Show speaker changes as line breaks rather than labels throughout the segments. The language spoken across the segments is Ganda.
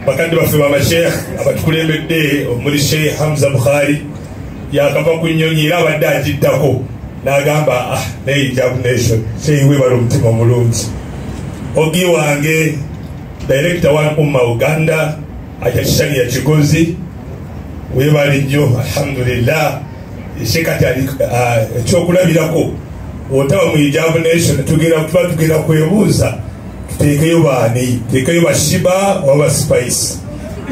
bakadde baffe babasheikh abatukulembedde omuli sheikh hamza bukhari yakava ku nyonyi era abadde agiddako nagamba ah, naye jabnation sheyiwebala omutima omulungi ogi wange direkita wa umma uganda ajakishani ya kigozi webale nnyo alhamdulillah shekati ah, ekyokulabirako otaba mu ijabnation tuba tugenda kwebuuza tuteekeyo baani tuteekeyo bashiba oba basipayisi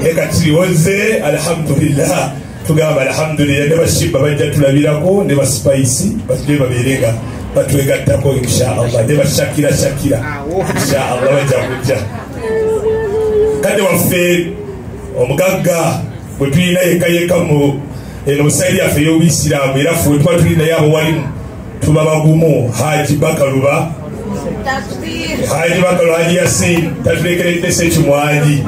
naye kati kiwoze alhamdulillah tugamba alhamdulillah ne bashiba bajja tulabirako ne basipayisi batule babeere nga batwegattako inshaallah ne bashakira shakira inshaallah bajja kujja kade waffe omugagga bwe tulina yekayeka mu eno musayiri yaffe ey'obuyisiraamu era ffe wetuba tulinayo abawalimu tuba bagumu haji bakaluba haji bakaluba haji yasin tatulekeredde sekimwanyi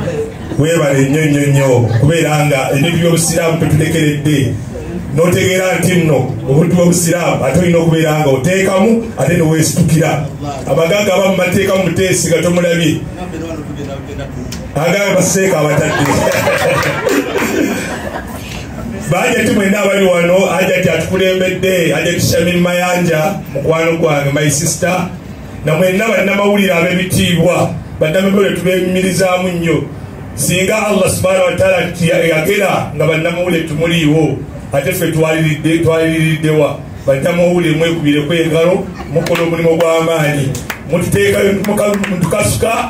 webale nnyo nnyo nnyo kubeera nga ebintu byobusiraamu tetulekeredde notegeera nti nno obuntu bwobusiraamu ate olina okubeera nga oteekamu ate newesitukira abagagga abamu bateekamu muteesi nga tomulabye agambe baseeka abatadde bajati mwena abali wano ajati atukulembedde ajati shamil mayanja mukwano gwange my sister na mwena bannamawulire ab'ebitiibwa bannamawulire tubeyimirizaamu nnyo singa allah subhana wataala yagera nga bannamawulire tumuliiwo ate ffe twaliririddewa bannamawulire mwekubireko engalo mukola omulimu gw'amaanyi mututeeka mutukasuka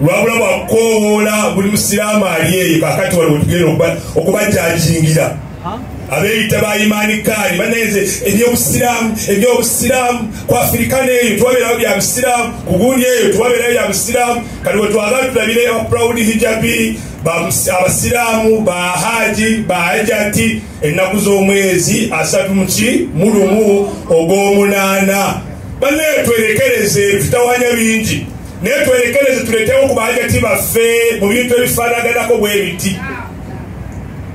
wabula wakukoowoola buli musiraamu ali eyo kakati wano wetugenda okubajajingira abeeyita ba imaani kaali banenze ebyobusiraamu ebyobusiraamu ku afirikana eyo tubabeerawo bya busiraamu ku gundi eyo tubabeerawo bya busiraamu kati wetwagala tulabire abapurawudi hijabi abasiraamu ba haji ba hajati ennaku z'omwezi asatu muki mulumu ogw'omunaana banee twerekereze ebitawanya bingi naye twerekereze tuletewo ku baagati baffe mu bintu ebifaanaganako bwe biti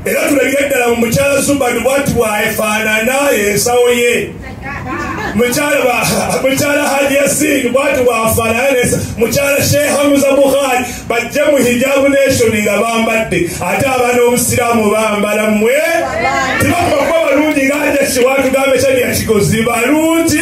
era tulabire ddala mu mukyala zubani bwati bwaefaanana ensawo ye mukyala haji yasin bwati bwafaanana mukyala sheikh hamuza bukhari bajje mu hijabu nation nga bambadde ate abaana obusiraamu bambala mmwe tibakubakuba balungi ngaajaki watugambe kyali yakikozi balungi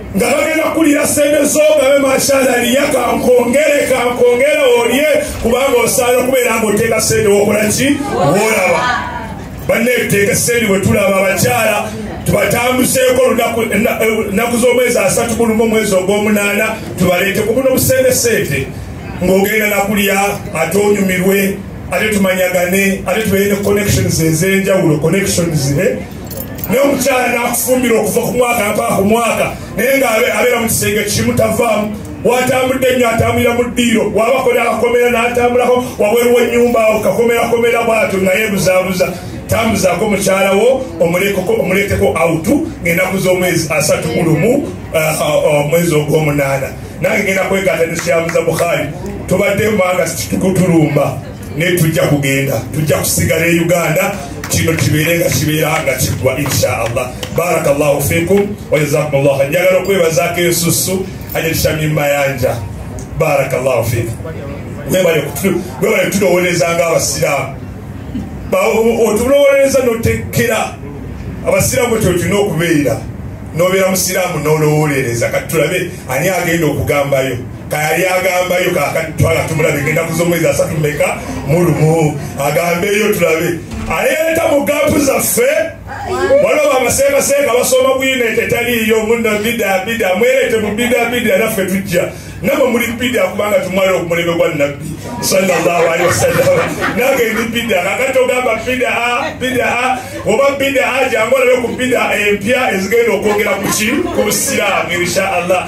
nga bagenda kukulira sente zogabe mashalali yakankongere kankongere olye kubanga osaana okubeera nga oteeka sente wokola ki wolaba banne tuteeke sente bwetulaba abakyala tubatambuseeko lunaku z'omwezi asatu bulumu omwezi ogw'omunaana tubaleete kubuno busente sente ng'ogenda nakulya ate onyumirwe ate tumanyagane ate tubeere ne connections ez'enjawulo connections eh? naye omukyala nakufumbira okuva ku mwaka mpaka ku mwaka naye nga abeera mu kisenge kimu tavaamu watambudde nnyo atambulira mu ddiiro wabakola akakomera n'atambulako wabweru w'ennyumba awo kakomerakomera bwatyo nga yebuzabuza tambuzaako mukyala wo omuleeteko awutu ng'enaku z'omwezi asatu mu lumu uh, uh, uh, omwezi ogw'omunaana nange ngenda kwegaata ne syabuza bukhali tubadde mubanga situkutulumba naye tujja kugenda tujja kusigala e uganda kino kibeere nga kibeera nga kiggwa inshaallah baraka llahu fikum wajazakum llah njagala okwebazaako ensusu ajatishamye mumayanja baraka llahu fikum webale kutulowolereza nga abasiraamu otulowolereza notekkera abasiraamu bwe tyotulina okubeera nobeera musiraamu nolowolereza kati tulabe ani agenda okugambayo kayali agambayo kakati twala tumulabe genda kuza omwezi asatu meka mulumu agambeyo tulabe ayeta mu gapu zaffe waliwo bamaseekaseeka basoma bwina etetaliiyo muna bida bida mwerete mu bida bida naffe tujja namwe muli bida kubanga tumala okumulebe gwa nabbi sallallahu alehi wasallam nange ndi bida kakati ogamba bida bida oba bida jangu olabe ku bida empya ezigenda okwogera kuki ku busiraamu insha allah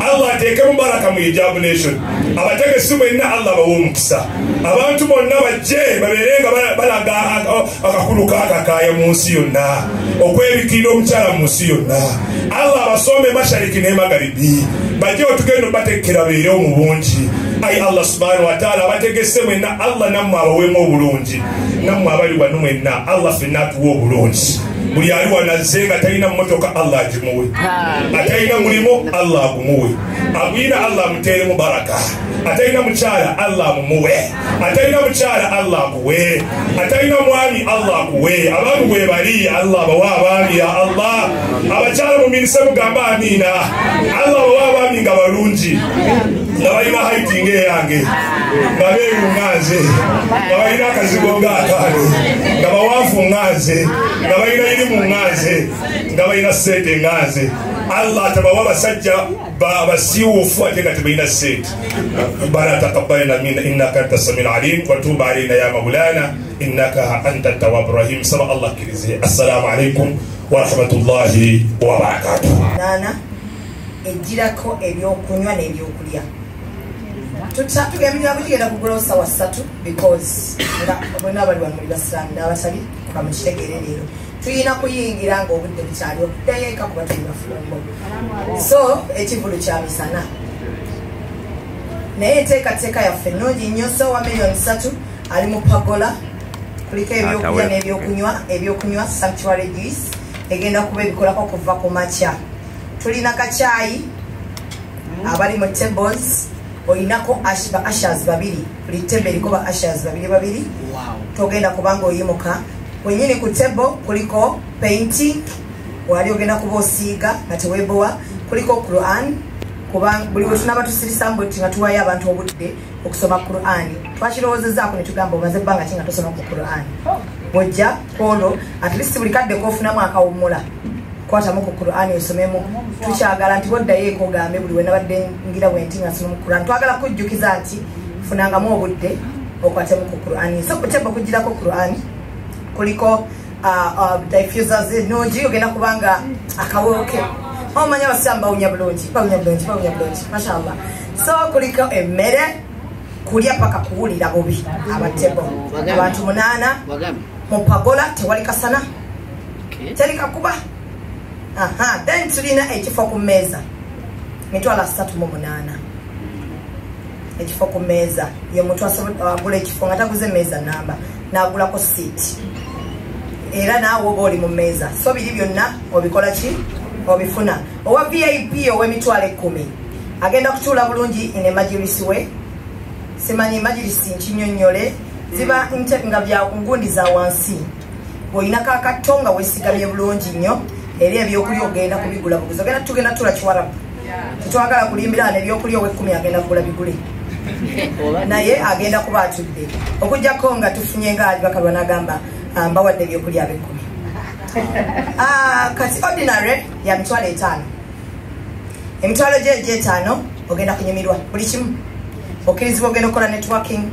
allah ateekemu baraka mu hijabu nation abategesi mwenna allah abawa omukisa abantu bonna bajje babeere nga balaga akakulu kakakaaya mu nsi yonna okwebikirira omukyala mu nsi yonna allah abasombe mashariki nemagaribi bajje otugenda obatekkera beere omu bungi ayi allah subhanahu wataala abategese mwenna allah nammwe abawemu obulungi nammwe abali wanu mwenna allah fenna atuwa obulungi buli ali wanazze nga talina mmotoka allah agimuwe atalina mulimu allah agumuwe agwina allah amuteeremu baraka atalina mukyala allah amumuwe atalina mukyala allah akuwe atalina mwami allah akuwe abantu bwe bali allah abawa abaami ya allah abakyala mumirise mugamba amiina allah abawa abaami nga balungi nga balina haiti ngaeyange nga beeyunga nze nga balina akazigo nga ataano nga bawanfu nga nze nga balina irimu nga nze nga balina sente nga nze allah atabawa abasajja basiwufu ate nga tebalina sente bana takabalna mina innaka anta sami lalim watuba alaina ya maulana innaka anta tawabu rahim saba allah kirize assalamu alaikum warahmatullahi wabarakatuh ejjirako ebyokunywa n'ebyokulya tugamira kugenda kugula osawa ssatu because nga bonna abali wano muli basiraamu n'abatali nga mukitegeere leero tulina kuyingira nga obudde bukyali okuddayo eka kuba tuli bafumbo so ekivulu kya misana naye enteekateeka yaffe nnungi nnyo sowa miliyoni ssatu ali mu pagola kuliko ebyokulya n'ebyokunywa ebyokunywa sanctuary juice egenda kuba ebikolako okuva ku makya tulina kacyayi mm. abali mu tables olinako ba ashers babiri buli table eriko ba ashers babiri babiri togenda kubanga oyimuka wenyini ku table kuliko painting wali ogenda kuba osiiga nga tewebowa kuliko quran kuba buli wetunaba tusirisamu bwe tinatuwayo abantu obudde okusoma qurani twakirowozezaako netugamba omaze ebbanga ki nga tosoma ku qurani bwojja kwolwo atlist buli kadde kofunamu akawumula kwatamu ku qurani osomemu tukyagala nti bwoddayo ekogambe buli wenabadde ngira wenti nga nsoma mu qurani twagala kujjukiza nti funangamu obudde okwatemu ku qurani so kuteba okugirako qurani kuliko difusers ah, ah, ennungi ogenda kubanga akawooke omanya abasiramu bawunya bulungi bawunya bulungi bawunya bulungi mashallah so kuliko emmere kulya paka kuwulira bubi abatebo abantu munaana mupagola tewali kasana teri kakuba then tulina ekifo ku mmeeza mitwalo asatu mu munaana ekifo ku mmeeza ye muntu agula ekifo nga taguze mmeeza namba nagulako siiti era naawe oba oli mu meeza so biri byonna obikola ki obifuna owa vip ow'emitwalo ekkumi agenda kutuula bulungi in emajirisi we simanyi emajirisi nkinyonnyole ziba nga byakungundi za wansi olina kakatto nga wesigamye bulungi nnyo era ebyokulya ogenda kubigula buguzi ogenda tugenda tula kiwarabu twagala kulimbira ne byokulya owekumi agenda kugula bigule naye agenda kuba atudde okujjako nga tufunye nga alibakalwa nagamba ah, mbawadde byokulya abekumi ah, kati ordinary ya mitwalo etaano emitwalo gye egyetaano ogenda kunyumirwa buli kimu okkirizibwa ogenda okukola networking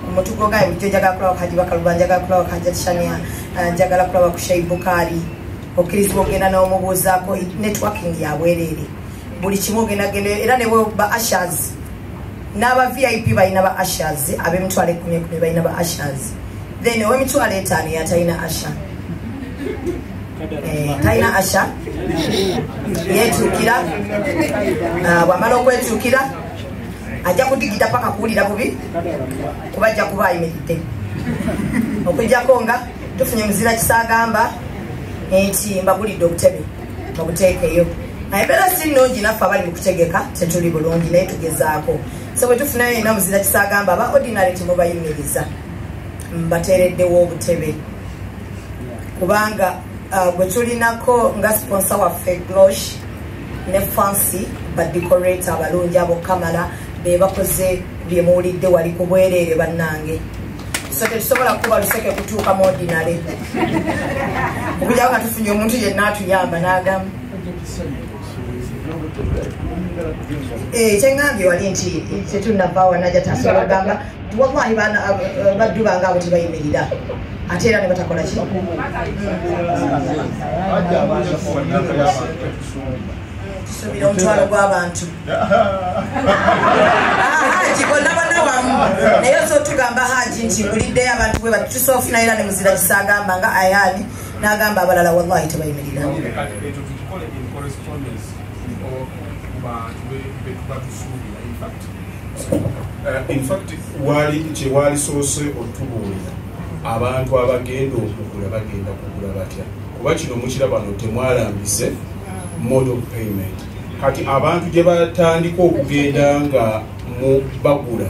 omuntu gwogaye mujjo njagala kulaba kaji bakalubanja gala kulaba kaja tishania eh, njagala kulaba kushaibu kali okkirizibwa okugenda n'omubuuzaako networking yabwereere buli kimu ogenda genda era newe ba ashers n'aba
vip balina ba ashers ab'emitwalo ekumi ekumi balina ba ashers then ow'emitwalo etaano yatalina asha eh, talina asha yetuukira ah, bwamala okwetuukira ajja kudigita paka kuwulira bubi kuba ajja kuba ayimiridde okujjako nga tufunye muzira kisagamba nti mbagulidde obutebe obuteekeyo embeera si nnungi naffe abali mu kutegeka tetuli bulungi naye tugezaako so bwe tufunayo yina muzira kisagamba aba ordinary temubayimiriza mbateereddewo obutebe kubanga uh, bwe tulinako nga sponsa waffe glosh ne fancy badecorate abalungi abo kamala bebakoze byemuwulidde wali kubwereere bannange so tetusobola kukuba luseke kutuuka mu odinale okujao nga tufunye omuntu yenna atuyamba n'agamu eh, kyeŋambye wali nti tetunavawa naja tasobola ogamba wallahi eh, baddu bange abo tebayimirira ate era ne batakola ki tusubira omutwalo gw'abantu haji bonna bonna wamu naye oza otugamba haji nti mbuliddeyo abantu bwe batutusa ofuna era ne muzira kisa agamba nga ayadi n'agamba abalala wallahi tebayimirira Uh,
in fact wali kyewaali soose otubuulira abantu abagenda okugula bagenda kugula batya kuba kino mukirabano temwalambise model payment kati abantu gye batandika okugenda nga mu bagula